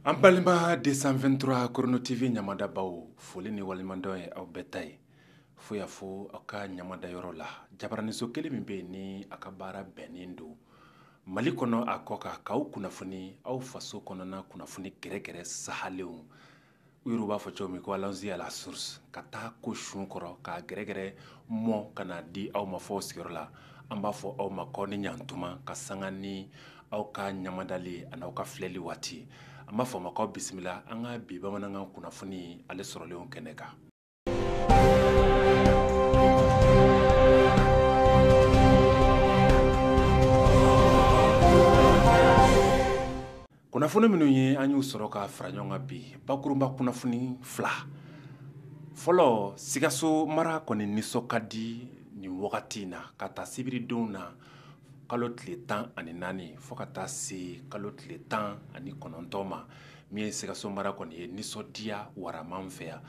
an balima 223 korono tv ɲamadabaw foli ni waleɲumandɔn ye aw bɛɛ ta ye fo yan fo aw ka ɲamada yɔrɔ la jabaraniso kelen min bɛ yen ni a ka baara bɛnnen don mali kɔnɔ a kɔ kan k'aw kunnafoni aw faso kɔnɔna kunnafoni gɛrɛgɛrɛ sahalenw u yɛrɛw b'a fɔ cogo min ko allons-y à la source ka taa ko sun kɔrɔ k'a gɛrɛgɛrɛ mɔ ka n'a di aw ma f'aw sigiyɔrɔ la an b'a fɔ aw ma k'aw ni ɲantuma ka sanga ni aw ka ɲamadali an'aw ka filɛli waati an b'a fɔ aw ma k'aw bisimila an ka bi bamanankan kunnafoni ale sɔrɔlenw kɛnɛ kan kunnafoni minnu ye an y'u sɔrɔ ka fara ɲɔgɔn kan bi bakurunba kunnafoni fila fɔlɔ sikaso mara kɔni nisɔn ka di nin wagati in na k'a ta sibiridon na kalo tile tan ani naani fo ka taa se kalo tile tan ani kɔnɔntɔn ma min ye sikaso mara kɔni ye nisɔndiya warama fɛ yan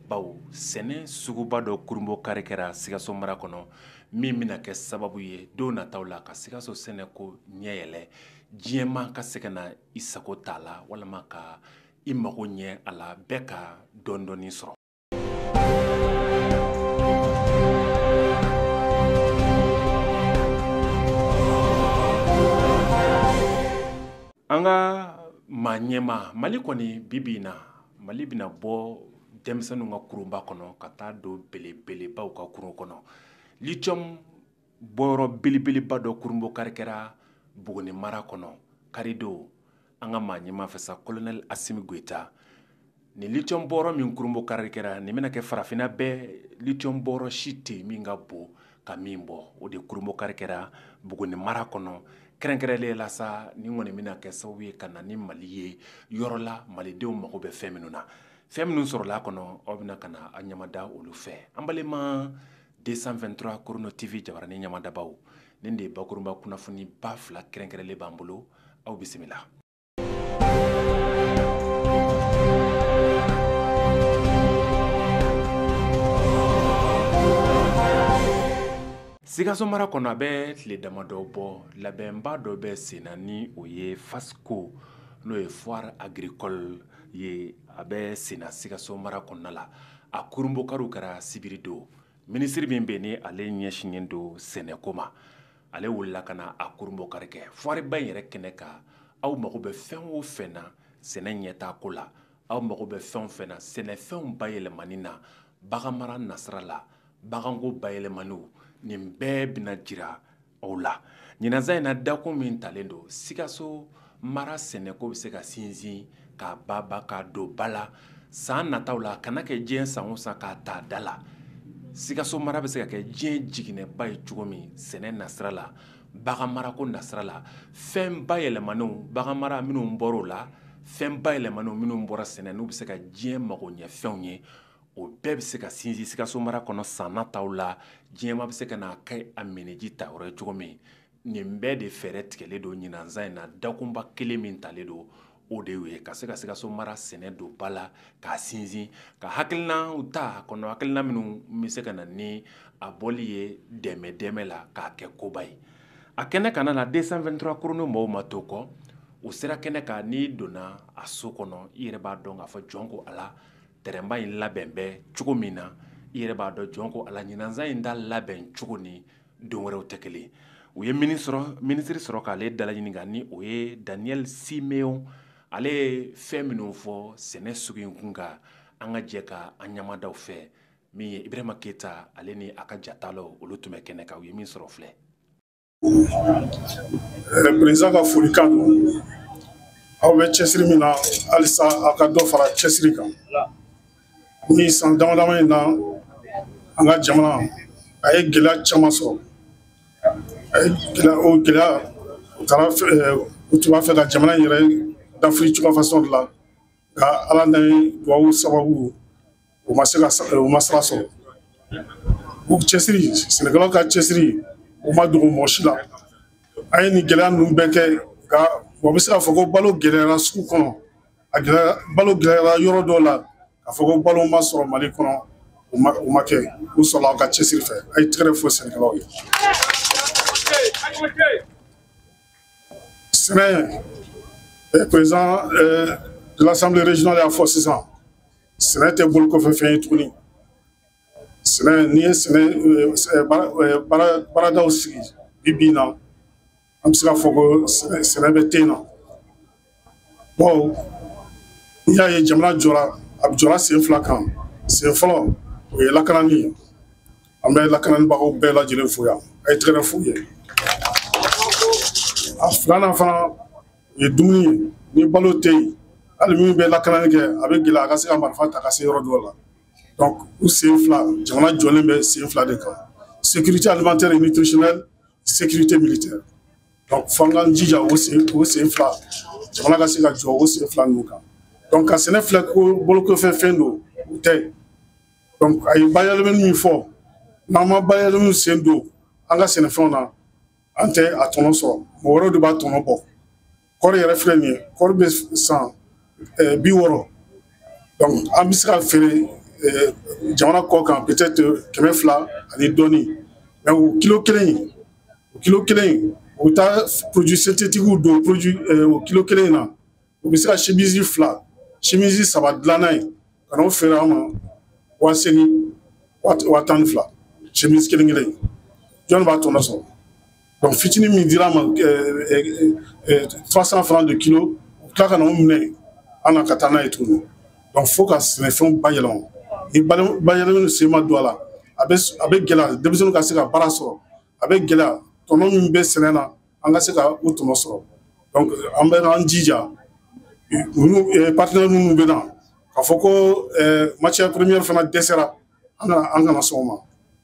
bawo sɛnɛ suguba dɔ kurunbokari kɛra sikaso mara kɔnɔ min bɛna kɛ sababu ye don nataw la ka sikaso sɛnɛ ko ɲɛ yɛlɛ diɲɛ ma ka se ka na i sago t'a la walima ka i mago ɲɛ a la bɛɛ ka dɔndɔɔni sɔrɔ an ka maa ɲɛma mali kɔni bi bi in na mali bɛna bɔ denmisɛnninw ka kurunba kɔnɔ ka taa don belebelebaw ka kurun kɔnɔ lithium bɔyɔrɔ belebeleba dɔ kurunbokari kɛra buguni mara kɔnɔ karidon an ka maa ɲɛma fɛ sa kolonɛli asimi goyita nin litiyɔn bɔyɔrɔ min kurunbokari kɛra nin bɛna kɛ farafinna bɛɛ litiyɔn bɔyɔrɔ si tɛ yen min ka bon ka min bɔ o de kurunbokari kɛra buguni mara kɔnɔ kɛrɛnkɛrɛnlen la sa nin kɔni bɛna kɛ sababu ye ka na ni mali ye yɔrɔ la malidenw mago bɛ fɛn minnu na fɛn minnu sɔrɔla a kɔnɔ aw bɛna ka na a ɲamada olu fɛ an balima 223 Chrono TV jabaranin ɲamadabaw nin de ye bakurunba kunnafoniba fila kɛrɛnkɛrɛnlen b'an bolo aw bisimila. Sikaso mara kɔnɔ a bɛ tile damadɔ bɔ labɛnba dɔ bɛ senna ni o ye FASKO n'o ye foire agricole ye a bɛ senna Sikaso mara kɔnɔna la. a kurunbonkariw kɛra sibiri don minisiri min bɛ ni ale ɲɛsinnen don sɛnɛko ma ale wulila ka na a kurunbonkari kɛ foire ba in yɛrɛ kɛnɛ kan aw mago bɛ fɛn o fɛn na sɛnɛ ɲɛtaa ko la aw mago bɛ fɛn o fɛn na sɛnɛfɛnw bayɛlɛmani na baganmara nasira la baganko bayɛlɛmaniw nin bɛɛ bɛna jira aw la ɲinansan in na dakun min talen don sikaso mara sɛnɛko bɛ se ka sinsin k'a banban k'a don ba la san nataw la a kana kɛ diɲɛ san o san k'a ta a da la sikaso mara bɛ se ka kɛ diɲɛ jiginɛba ye cogo min sɛnɛ nasira la baganmarako nasira la fɛn bayɛlɛmannenw baganmara minnu bɔra o la fɛn bayɛlɛmannenw minnu bɔra sɛnɛ n'u bɛ se ka diɲɛ magoɲɛfɛnw ye o bɛɛ bɛ se ka sinsin sikaso mara kɔnɔ san nataw la diɲɛmaa bɛ se ka n'a kɛ a minniji ta yɔrɔ ye cogo min nin bɛɛ de fɛɛrɛ tigɛlen don ɲinansan in na dakunba kelen min talen don o de ye ka se ka sikaso mara sɛnɛ don ba la k'a sinsin ka hakilinaw ta kɔnɔ hakilina minnu bɛ se ka na ni a bɔli ye dɛmɛdɛmɛ la k'a kɛ koba ye a kɛnɛ kana na deux cent vingt-trois chrono mɔgɔw ma to kɔ u sera kɛnɛ kan n'i donna a so kɔnɔ i yɛrɛ b'a dɔn k'a fɔ jɔn ko ala tɛrɛnba in labɛn bɛ cogo min na i yɛrɛ b'a dɔn jɔn ko ala ɲinansan in ta labɛn cogo ni don wɛrɛw tɛ kelen u ye minisiri sɔrɔ k'ale dalaɲininka ni o ye daniel siméon ale ye fɛn minnu fɔ sɛnɛ sugu in kun kan an ka jɛ ka an ɲɛmada o fɛ min ye ibrahima keyita ale ni a ka jatalaw olu tun bɛ kɛnɛ kan u ye min sɔrɔ filɛ eh, président ka folikan don aw bɛ cɛsiri min na halisa aw ka dɔ fara cɛsiri kan nin san damadama in na an ka jamana a ye gɛlɛya caman sɔrɔ a ye gɛlɛya o gɛlɛya u taara eh, u tun b'a fɛ ka jamana in yɛrɛ dafiri cogoya fasɔn de la nka ala n'a duwawu sababu u ma se ka u ma sira sɔrɔ o cɛsiri sɛnɛkɛlaw ka cɛsiri o ma dogo mɔgɔ si la an ye nin gɛlɛya ninnu bɛɛ kɛ nka mɔgɔ bɛ se k'a fɔ ko balo gɛlɛyara sugu kɔnɔ a gɛlɛya balo gɛlɛyara yɔrɔ dɔw la k'a fɔ ko balo ma sɔrɔ mali kɔnɔ o ma o ma kɛ o sɔrɔla aw ka cɛsiri fɛ a ye tɛgɛrɛ fɔ sɛnɛkɛlaw ye sɛnɛ eh, président eh, de l'assemblée régionale y'a fɔ sisan sɛnɛ tɛ bolokɔfɛfɛn ye tuguni sɛnɛ n'i ye sɛnɛ eh, baaradaw sigi bi bi in na an bɛ se k'a fɔ ko sɛnɛ bɛ ten na bawo n'i y'a ye jamana jɔra a jɔra sen fila kan sen fɔlɔ o ye lakanani ye an bɛ lakananibagaw bɛɛ lajɛlen fo yan a ye tɛgɛrɛ f'u ye a filanan fana o ye dumuni ye ni balo tɛ yen hali min bɛ lakanani kɛ a bɛ gɛlɛya a ka se ka marifa ta ka se yɔrɔ dɔw la donc o sen fila jamana jɔlen bɛ sen fila de kan sécurité alimentaire et nutritionnelle sécurité militaire donc fo an k'an jija o sen o sen fila jamana ka se ka jɔ o sen fila ninnu kan donc ka sɛnɛ filɛ ko bolokɔfɛ fɛn don o tɛ donc a ye bayɛlɛmani min fɔ n'an ma bayɛlɛmani sen don an ka sɛnɛfɛnw na an tɛ a tɔnɔ sɔrɔ mɔgɔ wɛrɛw de b'a tɔnɔ bɔ kɔɔri yɛrɛ filɛ nin ye kɔɔri bɛ san eh, bi wɔɔrɔ donc an bɛ se ka feere eh, jamana kɔ kan peut-être kɛmɛ fila ani dɔɔni mais o kilo kelen o kilo kelen in u bɛ taa produit synthétiques don produit euh, o kilo kelen in na u bɛ se ka chemise fila chemise saba dilan n'a ye ka n'o feere an ma waa seegin waa tan ni fila chemise kelen kelen in jɔn b'a tɔnɔ sɔrɔ donc fitinin min dira an ma euh, euh, trois cent francs de kilo u tila ka na o minɛ an na ka taa n'a ye tuguni donc fo ka sɛnɛfɛnw bayɛlɛma ni bayɛlɛmani sen ma don a la a bɛ gɛlɛya denmisɛnninw ka se ka baara sɔrɔ a bɛ gɛlɛya tɔnɔ min bɛ sɛnɛ na an ka se ka o tɔnɔ sɔrɔ donc an bɛ an jija ninnu eh, partenaire minnu bɛ na k'a fɔ ko eh, matière première fana dɛsɛra an kana an kana sɔn o ma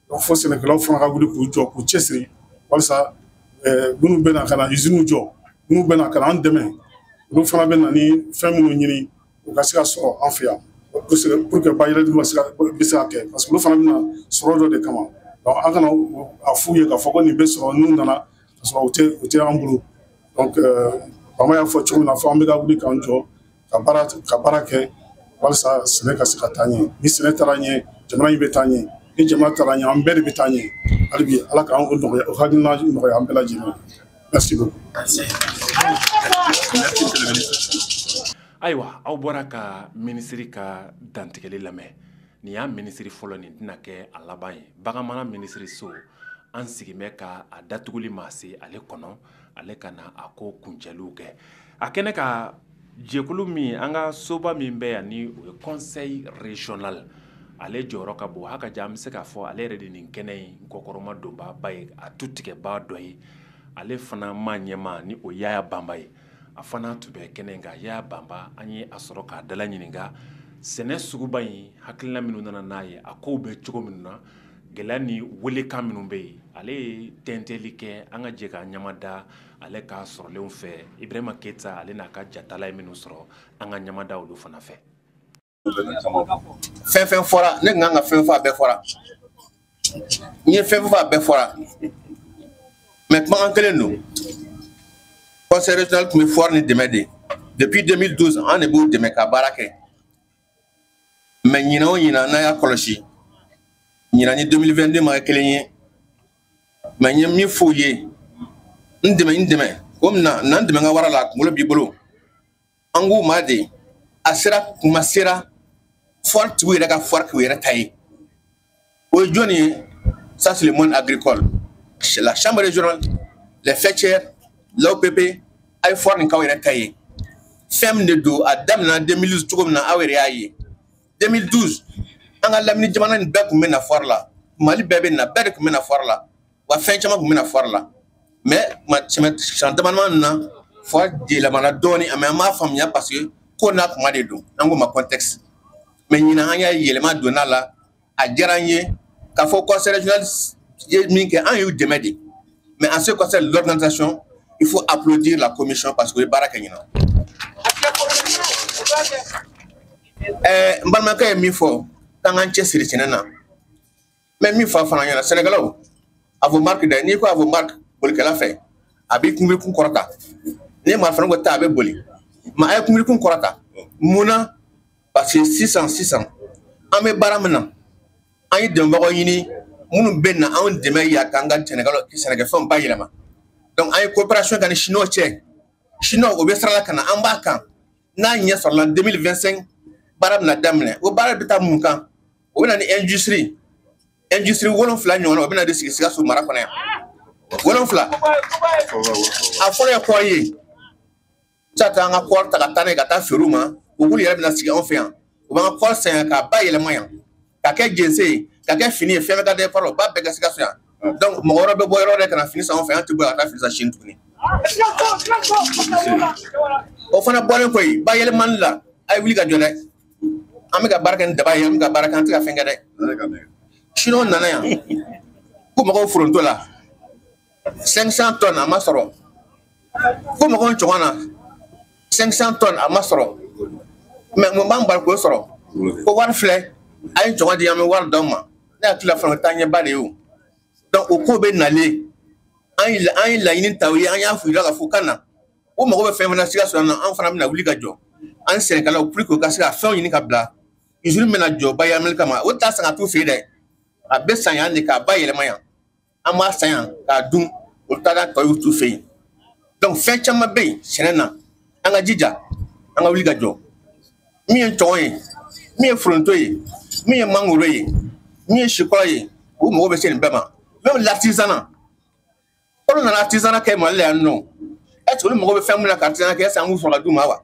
donc fo sɛnɛkɛlaw fana ka wuli k'u jɔ k'u cɛsiri walasa eh, minnu bɛ na ka na usines jɔ minnu bɛ na ka na an dɛmɛ olu fana bɛ na ni fɛn minnu ɲini u ka se ka sɔrɔ an fɛ yan pour que bayɛlɛmani bɛ se ka kɛ parce que olu fana bɛ na sɔrɔ dɔ de kama donc an kana a f'u ye k'a fɔ ko nin bɛ sɔrɔ n'u nana ka sɔrɔ u tɛ u tɛ an bolo donc bama y'a fɔ cogo min na fo an bɛɛ ka wuli k'an jɔ ka baara ka baara kɛ walasa sɛnɛ ka se ka taa ɲɛ ni sɛnɛ taara ɲɛ jamana in bɛ taa ɲɛ ni jamana taara ɲɛ an bɛɛ de bɛ taa ɲɛ hali bi ala ka o nɔgɔya o hakilina nɔgɔya an bɛɛ lajɛlen Merci beaucoup. Merci. Merci, monsieur le ministre. ayiwa aw bɔra ka minisiri ka dantigɛli lamɛn nin y'a minisiri fɔlɔ nin tɛna kɛ a laban ye baganmara minisiriso an sigin bɛ ka a datuguli ma se ale kɔnɔ ale ka na a ko kuncɛliw kɛ a kɛnɛ kan jɛkulu min an ka soba min bɛ yan ni o ye conseil régional ale jɔyɔrɔ ka bon hakaja an bɛ se k'a fɔ ale yɛrɛ de nin kɛnɛ in kɔkɔrɔmadonbaaba ye a tutigɛbaa dɔ ye ale fana maa ɲɛmaa ni o yaya banba ye a fana tun bɛ kɛnɛ in kan yaya banba an ye a sɔrɔ k'a dala ɲininka sɛnɛ suguba in hakilina minnu nana n'a ye a kow bɛ cogo minnu na gɛlɛya ni welekan minnu bɛ yen ale ye tɛntɛli kɛ an ka jɛ k'a ɲɛmada ale ka sɔrɔlenw fɛ ibrahima keyita ale n'a ka jatala ye minnu sɔrɔ an ka ɲamada olu fana fɛ fɛn fɛn fɔra ne kan ka fɛn fɔ a bɛɛ fɔra n ye fɛn fɔ a bɛɛ fɔra mais kumakan kelen don conseil régional tun bɛ foire nin dɛmɛ de depuis 2012 an de b'o dɛmɛ ka baara kɛ mais ɲina o ɲina n'a y'a kɔlɔsi ɲina ni 2022 ma kɛ kelen ye mais n ye min f'u ye n dɛmɛ n dɛmɛ ko na na n dɛmɛ n ka wara la a kunkolo b'i bolo an k'u ma de a sera kuma sera foire tigiw yɛrɛ ka foire k'u yɛrɛ ta ye o ye jɔni ye ça c'est le monde agricole la chambre régionale les faîtières l'AOPP a ye foire nin k'aw yɛrɛ ta ye fɛn min de don a daminɛna 2012 cogo min na aw yɛrɛ y'a ye 2012 an ka lamini jamana nin bɛɛ tun bɛ na foire la mali bɛɛ bɛ na bɛɛ de tun bɛ na foire la wa fɛn caman tun bɛ na foire la mais san damadama na foire yɛlɛmana dɔɔnin mais an b'a faamuya parce que ko n'a kuma de don an ko ma contexte mais ɲinan an y'a yɛlɛma donna la a diyara an ye k'a fɔ conseil régional ye min kɛ an y'u dɛmɛ de mais en ce qui concerne l'organisation il faut applaudir la commission parce que o ye baara kɛ ɲinan ɛɛ n balimakɛ ye min fɔ k'an k'an cɛsiri sɛnɛ na n bɛ min fɔ a fana ɲɛna sɛnɛkɛlaw à vos marques dɛ n'i ko à vos marques bolikɛla fɛ a b'i kunbirikun kɔrɔta n'i ye marifani ko ta a bɛ boli mais a ye kunbirikun kɔrɔta mun na parce que sisan sisan an bɛ baara min na an ye dɛmɛbagaw ɲini minnu bɛ na anw dɛmɛ yan k'an ka sɛnɛkɛlaw sɛnɛkɛfɛnw bayɛlɛma donc an ye coopération kɛ ni chinois cɛ chinois o bɛ sira la ka na an b'a kan n'a ɲɛ sɔrɔla 2025 baara bɛna daminɛ o baara bɛ taa mun kan o bɛ na ni industrie industrie wolonfila ɲɔgɔn o bɛ na de sigi sikaso mara kɔnɔ yan wolonfila a fɔlɔ ye kɔɔri ye sa taa an ka kɔɔri ta ka taa n'a ye ka taa feere u ma u k'olu yɛrɛ bɛna sigi anw fɛ yan u b'an ka kɔɔri san yan k'a bayɛlɛma yan ka kɛ jense ye ka kɛ fini ye fɛn bɛ ka da fara o b'a bɛɛ kɛ sikaso yan donc mɔgɔ wɛrɛ bɛ bɔ yɔrɔ wɛrɛ ka na fini san anw fɛ yan an tɛ bɔ yan ka taa fini san chine tuguni o fana bɔlen kɔ yen bayɛlɛmani la a ye wuli ka jɔ dɛ an bɛ ka baara kɛ ni daba ye an bɛ ka baara kɛ an tɛ ka fɛn kɛ dɛ chinois nana yan k'u mago bɛ foronto la 500 tonnes a ma sɔrɔ k'u mago bɛ cɔgɔn na 500 tonnes a ma sɔrɔ mais mun b'an bali k'o sɔrɔ ko wari filɛ a ye cɔgɔn di an bɛ wari d'aw ma ne hakili la fana taa ɲɛba de ye o donc o ko bɛ nalen an ye laɲini ta u ye an y'a f'u la ka fɔ ka na o mago bɛ fɛn fana sikaso yan nɔ an fana bɛna wuli ka jɔ an sɛnɛkɛlaw pour que u ka se ka fɛnw ɲini ka bila usine bɛna jɔ bayɛlɛmali kama o t'a san ka t'u fɛ yen dɛ a bɛ san yan de k'a bayɛlɛma yan an b'a san yan k'a dun olu t'a ka tɔw t'u fɛ yen donc fɛn caman bɛ yen sɛnɛ na an ka jija an ka wuli ka jɔ min ye cɔgɔn ye min ye foronto ye min ye mangoro ye min ye sikɔrɔ ye u mago bɛ se nin bɛɛ ma même l'artisanat olu nana artisanat kɛ mali la yan nɔ est ce que olu mago bɛ fɛn min na ka artisanat kɛ est ce que an b'u sɔrɔ ka d'u ma wa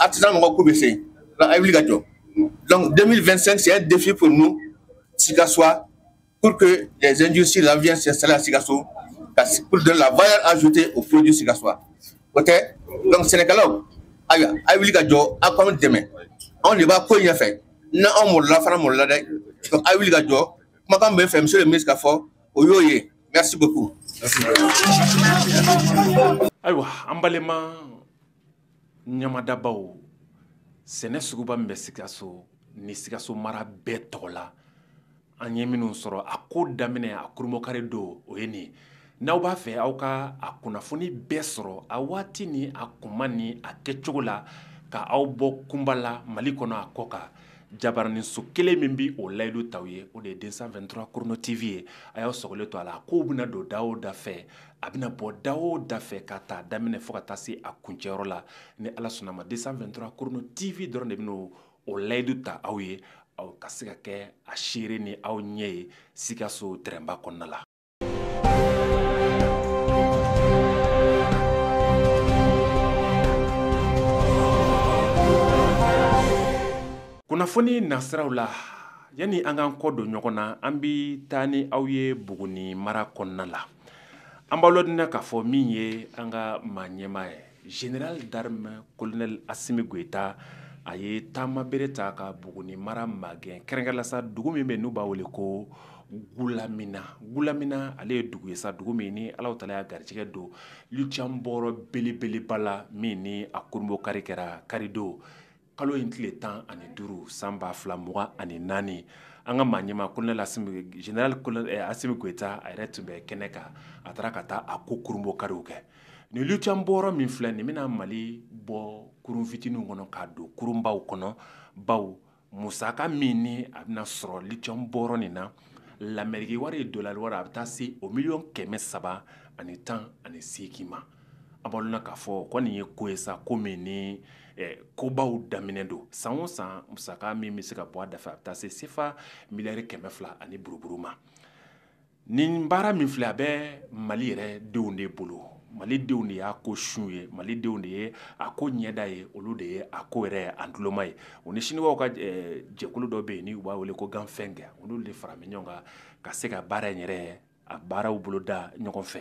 artisanat mɔgɔw ko bɛ se a ye wuli ka jɔ donc 2025 c'est un défi pour nous sikassois pour que les industries là viennent s'installer à sikaso pour donner la valeur ajoutée aux produits sikassois ok donc sɛnɛkɛlaw ayiwa a ye wuli ka jɔ aw k'anw dɛmɛ anw de b'a ko in ɲɛfɛ n'anw malola aw fana malola dɛ donc a ye wuli ka jɔ kumakan bɛ n fɛ monsieur le ministre k'a fɔ o y'o ye merci beaucoup ayiwa an balima ɲamadabaw sɛnɛ suguba min bɛ sikaso ni sikaso mara bɛɛ tɔgɔ la an ye minnu sɔrɔ a ko daminɛ a kurunbonkari don o ye nin n'aw b'a fɛ aw ka a kunnafoni bɛɛ sɔrɔ a waati ni a kuma ni a kɛcogo la ka aw bɔ kunpa la mali kɔnɔ a kɔkan jabaraninso kelen min bɛ o layidu ta aw ye o de ye 223 chrono tv ye a y'aw sɔgɔlen to a la kow bɛna don da o da fɛ a bɛna bɔ da o da fɛ ka taa daminɛ fo ka taa se a kuncɛyɔrɔ la ni ala sɔnna ma 223 chrono tv dɔrɔn de bɛ o layidu ta aw ye aw ka se ka kɛ a seere ni aw ɲɛ ye sikaso terɛnba kɔnɔna la kunnafoni nasiraw la yanni an k'an kɔ don ɲɔgɔn na an bi taa ni aw ye buguni mara kɔnɔna la an b'aw ladɔnniya k'a fɔ min ye an ka maa ɲɛmaa ye Général d'armée kolonɛli asimi goyita a ye taama bere ta ka buguni mara magɛn kɛrɛnkɛrɛnna sa dugu min bɛ n'u b'a wele ko gulamina gulamina ale ye dugu ye sa dugu min ni ala taala y'a garijɛgɛ don lithium bɔyɔrɔ belebeleba la min ni a kurunbonkari kɛra karidon kalo in tile tan ani duuru san ba fila mugan ani naani an ka maa ɲɛmaa kolonɛli général asimi goyita a yɛrɛ tun bɛ kɛnɛ kan a taara ka taa a ko kurunbonkariw kɛ ni lithium bɔyɔrɔ min filɛ nin bɛna mali bɔ kurun fitininw kɔnɔ k'a don kurunbaw kɔnɔ bawo musaka min ni a bɛna sɔrɔ lithium bɔyɔrɔ nin na lameriki wari ye dɔlari a bɛ taa se o miliyɔn kɛmɛ saba ani tan ani segin ma A b'a la k'a fɔ ko nin ye ko ye sa ko min ni kobaw daminɛ don san o san musaka min bɛ se ka bɔ a dafɛ a bɛ taa se sefa miliyari kɛmɛ fila ani buruburu ma nin baara min filɛ a bɛ mali yɛrɛ denw de bolo mali denw de y'a ko sun ye mali denw de ye a ko ɲɛda ye olu de ye a ko yɛrɛ ntuloma ye u ni siniwaw ka jɛkulu dɔ bɛ yen n' u b'a wele ko Ganfeng olu de faralen ɲɔgɔn kan ka se ka baara in yɛrɛ ye a baaraw boloda ɲɔgɔn fɛ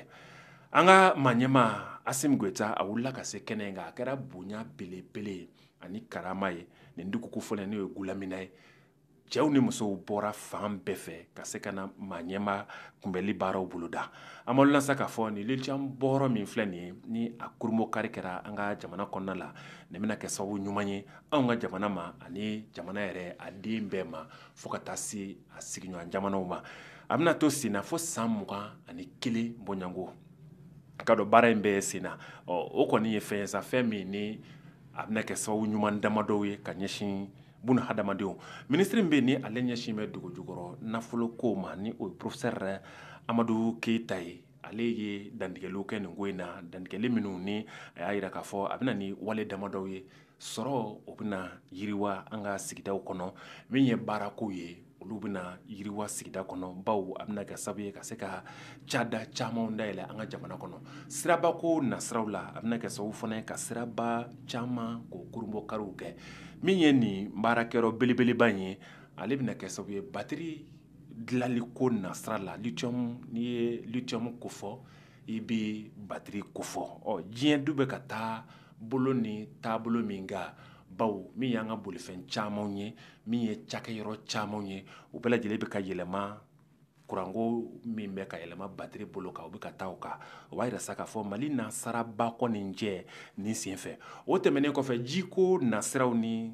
an ka maa ɲɛmaa asimi goyita a wulila ka se kɛnɛ in kan a kɛra bonya belebele ye ani karama ye nin dugu kofɔlen n'o ye gulamina ye cɛw ni musow bɔra fan bɛɛ fɛ ka se ka na maa ɲɛmaa kunbɛli baaraw boloda an b'aw lasa k'a fɔ nin lithium bɔyɔrɔ min filɛ nin ye ni a kurunbonkari kɛra an ka jamana kɔnɔna la nin bɛna kɛ sababu ɲuman ye anw ka jamana ma ani jamana yɛrɛ a den bɛɛ ma fo ka taa se a sigiɲɔgɔn jamanaw ma a bɛna to senna fo san mugan ani kelen bɔɲɔgɔnko ka dɔn baara in bɛɛ senna o kɔni ye fɛn ye sa fɛn min ni a bɛna kɛ sababu ɲuman damadɔw ye ka ɲɛsin bunadamadenw minisiri min bɛ ni ale ɲɛsin bɛ dugu jukɔrɔ nafolo ko ma ni o ye porofesɛri amadu keyita ye ale ye dantigɛliw kɛ nin ko in na dantigɛli minnu ni a y'a jira k'a fɔ a bɛna ni wale damadɔw ye sɔrɔ o bɛna yiriwa an ka sigidaw kɔnɔ min ye baarako ye olu bɛna yiriwa sigida kɔnɔ baw a bɛna kɛ sababu ye ka se ka cada camanw dayɛlɛn an ka jamana kɔnɔ sirabako nasiraw la a bɛna kɛ sababu fana ye ka siraba caman ko kurunbonkariw kɛ min ye nin baarakɛyɔrɔ belebeleba in ye ale bɛna kɛ sababu ye batiri dilanliko nasira la lithium n'i ye lithium kofɔ i bɛ batiri kofɔ ɔ diɲɛ dun bɛ ka taa bolo ni taabolo min kan baw min y'an ka bolifɛn camanw ye min ye cakɛyɔrɔ camanw ye u bɛɛ lajɛlen bɛ ka yɛlɛma kuranko min bɛ ka yɛlɛma batiri bolo kan u bɛ ka taa o kan o b'a jira sa k'a fɔ mali na saraba kɔni cɛ nin senfɛ o tɛmɛnen kɔfɛ jiko nasiraw ni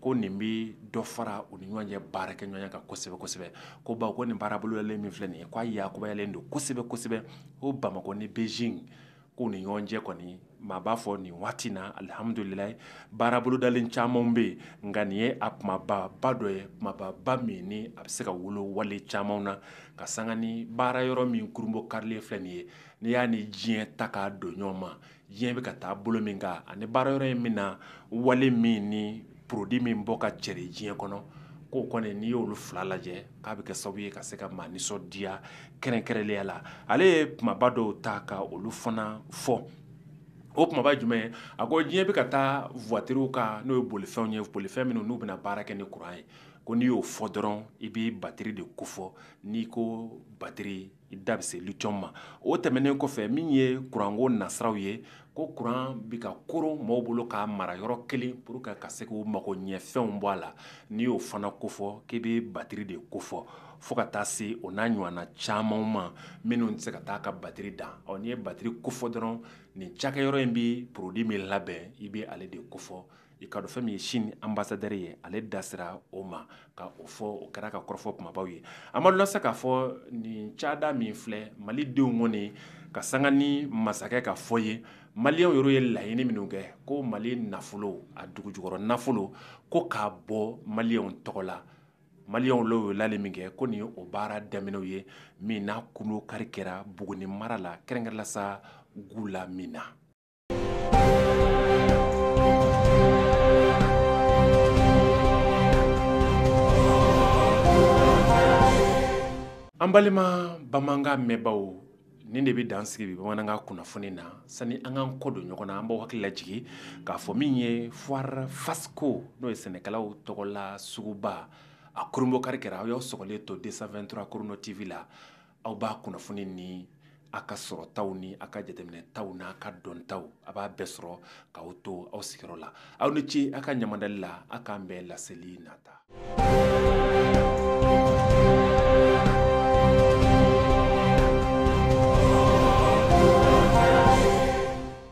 ko nin bɛ dɔ fara u ni ɲɔgɔn cɛ baarakɛɲɔgɔnya kan kosɛbɛ kosɛbɛ ko bawo ko nin baaraboloyalen min filɛ nin ye k'a yakubayalen don kosɛbɛ kosɛbɛ ko Bamakɔ ni Beijing k'u ni ɲɔgɔn cɛ kɔni maa b'a fɔ nin waati in na alihamudulilayi baarabolodalen camanw bɛ yen nka nin ye a kunbaba dɔ ye kunbaba min ni a bɛ se ka wolo wale camanw na ka sanga ni baara yɔrɔ min kurunbonkarilen filɛ nin ye n'i y'a ni diɲɛ ta k'a don ɲɔgɔn ma diɲɛ bɛ ka taa bolo min kan ani baara yɔrɔ in bɛna wale min ni produit min bɔ ka cɛri diɲɛ kɔnɔ k'o kɔni n'i y'olu fila lajɛ k'a bɛ kɛ sababu ye ka se ka maa nisɔndiya kɛrɛnkɛrɛnlenya la ale ye kumaba dɔw ta ka olu fana fɔ o kumaba jumɛn a ko diɲɛ bɛ ka taa vwatiriw kan n'o ye bolifɛnw ye bolifɛn minnu n'u bɛna baara kɛ ni kuran ye ko n'i y'o fɔ dɔrɔn i bɛ bateri de kofɔ n'i ko bateri i da bɛ se litiyɔmu ma o tɛmɛnen kɔfɛ min ye kuranko nasiraw ye ko kuran bɛ ka koron mɔgɔw bolo k'a mara yɔrɔ kelen pour que ka se k'u magoɲɛfɛnw bɔ a la n'i y'o fana kofɔ k'i bɛ batiri de kofɔ fo ka taa se o n'a ɲɔgɔnna camanw ma minnu tɛ se ka taa ka batiri dan ɔ n'i ye batiri kofɔ dɔrɔn nin cakɛyɔrɔ in bɛ produit min labɛn i bɛ ale de kofɔ i ka dɔn fɛn min ye chine ambassadeur ye ale da sera o ma ka o fɔ o kɛra ka kɔrɔfɔ kunbabaw ye amadu la se k'a fɔ nin cada min filɛ malidenw kɔni ka sanga ni masakɛ ka fɔ ye maliyɛnw yɛrɛ ye laɲini minnu kɛ ko mali nafolo a dugujukɔrɔ nafolo ko k'a bɔ maliyɛnw tɔgɔ la maliyɛnw y'o wale min kɛ ko nin ye o baara daminɛw ye min n'a kunbonkari kɛra buguni mara la kɛrɛnkɛrɛn la sa gulamina an balima bamanankan mɛnbaaw nin de bɛ dan sigi bi bamanankan kunnafoni na sani an k'an kɔ don ɲɔgɔn na an b'aw hakili lajigin k'a fɔ min ye foire fasco n'o ye sɛnɛkɛlaw tɔgɔla suguba a kurunbonkari kɛra aw y'aw sɔgɔlen to 223 chrono tv la aw b'a kunnafoni ni a ka sɔrɔtaw ni a ka jateminɛtaw n'a ka dɔntaw a b'a bɛɛ sɔrɔ k'aw to aw sigiyɔrɔ la aw ni ce aw ka ɲɛmadali la aw k'an bɛn laseli nata